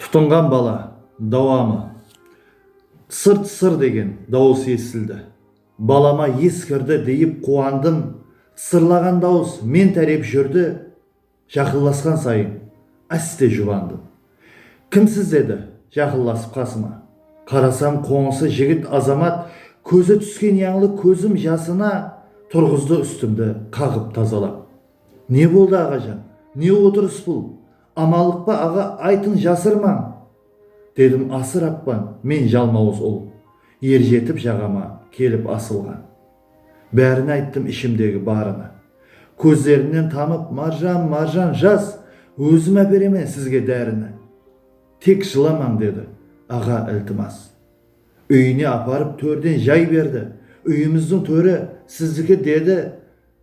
Tutınǵan bala, dawamı. Tsır-tsır degen dawıs esitildi. Balama es kirdi deyip quwandım, tsırlaǵan dawıs men tárep júrdi, jaqınlasqan sayın áste jubandım. Kimsiz edi jaqınlasıp qasıma? Qarasam qońsı jigit Azamat kózi túsken yańlı kózim jasına turǵızdı ústimdi qaǵıp tazalap. Ne boldı aǵajan, ne otırıs bul? Amanlıqpa aǵa aytın jasırmań! dedim asır appan men jalmawız ul erjetip jaǵama kelip asılǵan. Bárin ayttım ishimdegi barını. Kózlerinnen tanıp Marjan Marjan jas ózim áperemen sizge dárini. Tek jılamań dedi aǵa iltimas. Úyine aparıp tórden jay berdi úyimizdiń tóri sizdiki dedi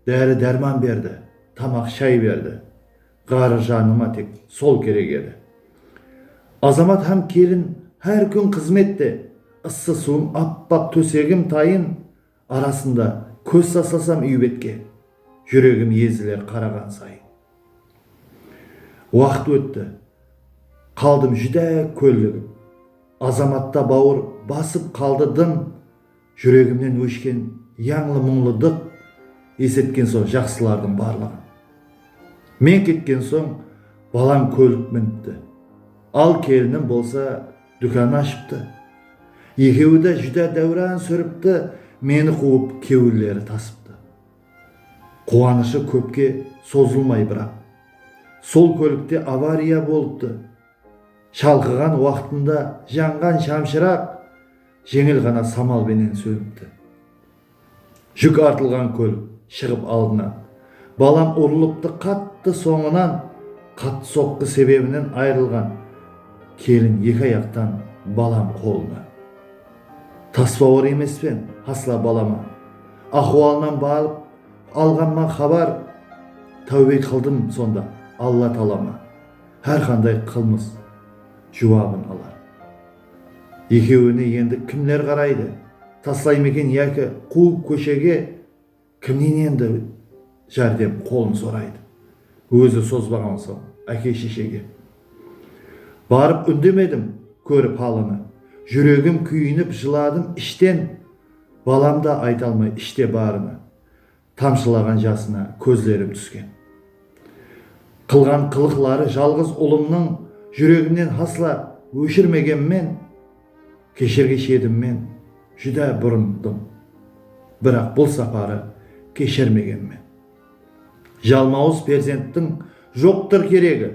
dári dárman berdi tamaq shay berdi. Ǵarrı janıma tek sol kerek edi. Azamat hám kelin hár kún xızmette, ıssı suwım appaq tósegim tayın arasında kóz taslasam úy betke, júregim eziler qaraǵan sayın. Waqıt ótti, qaldım júdá kólligip. Azamatta bawır basıp qaldı dım. Júregimnen óshken yańlı muńlıdıq Esetken soń jaqsılardıń barlıǵın. Men ketken soń balam kólik minipti, Al kelinim bolsa dúkan ashıptı. Ekewi de júdá dáwran súripti, Meni quwıp kewilleri tasıptı. Quwanıshı kópke sozılmay biraq, Sol kólikte avariya bolıptı. Shalqıǵan waqtında janǵan shamshıraq, Jeńil ǵana samal benen sónipti. Júk artılǵan kól shıǵıp aldına. Balam urılıptı qattı sońınan qattı soqqı sebebinen ayırılǵan kelin eki ayaqtan balam qolına. Taspawar emespen hasla balama axualınan barıp alǵanma xabar táwbe qıldım sonda Alla talama hárqanday qılmıs juwabın alar. Ekewine endi kimler qaraydı? Taslaymeken yaki quwıp kóshege kimnen endi járdem qolın soraydı? Ózi sozbaǵan soń áke-sheshege. Barıp úndemedim, kórip halını. Júregim kúyinip jıladım ishten, Balam da ayta almay ishte barını. Tamshılaǵan jasına kózlerim túsken. Qılǵan qılıqları jalǵız ulımnıń júregimnen hasla óshirmegenmen, keshirgish edim men, júdá burındım. Biraq bul saparı keshirmegenmen. Jalmawız perzenttiń joqtır keregi,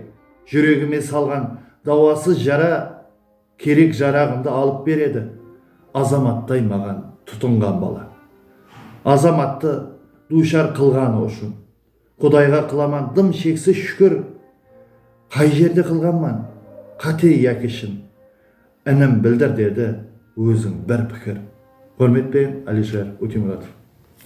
júregime salǵan dawasız jara. Kerek-jaraǵımdı alıp beredi. Azamattay maǵan tutınǵan bala. Azamattı duwshar qılǵanı ushın Qudayǵa qılaman dım sheksiz shúkir. Qay jerde qılǵanman, qáte yaki shın? Inim, bildir, dedi óziń bir pikir. Húrmetpen Alisher Utimuratov.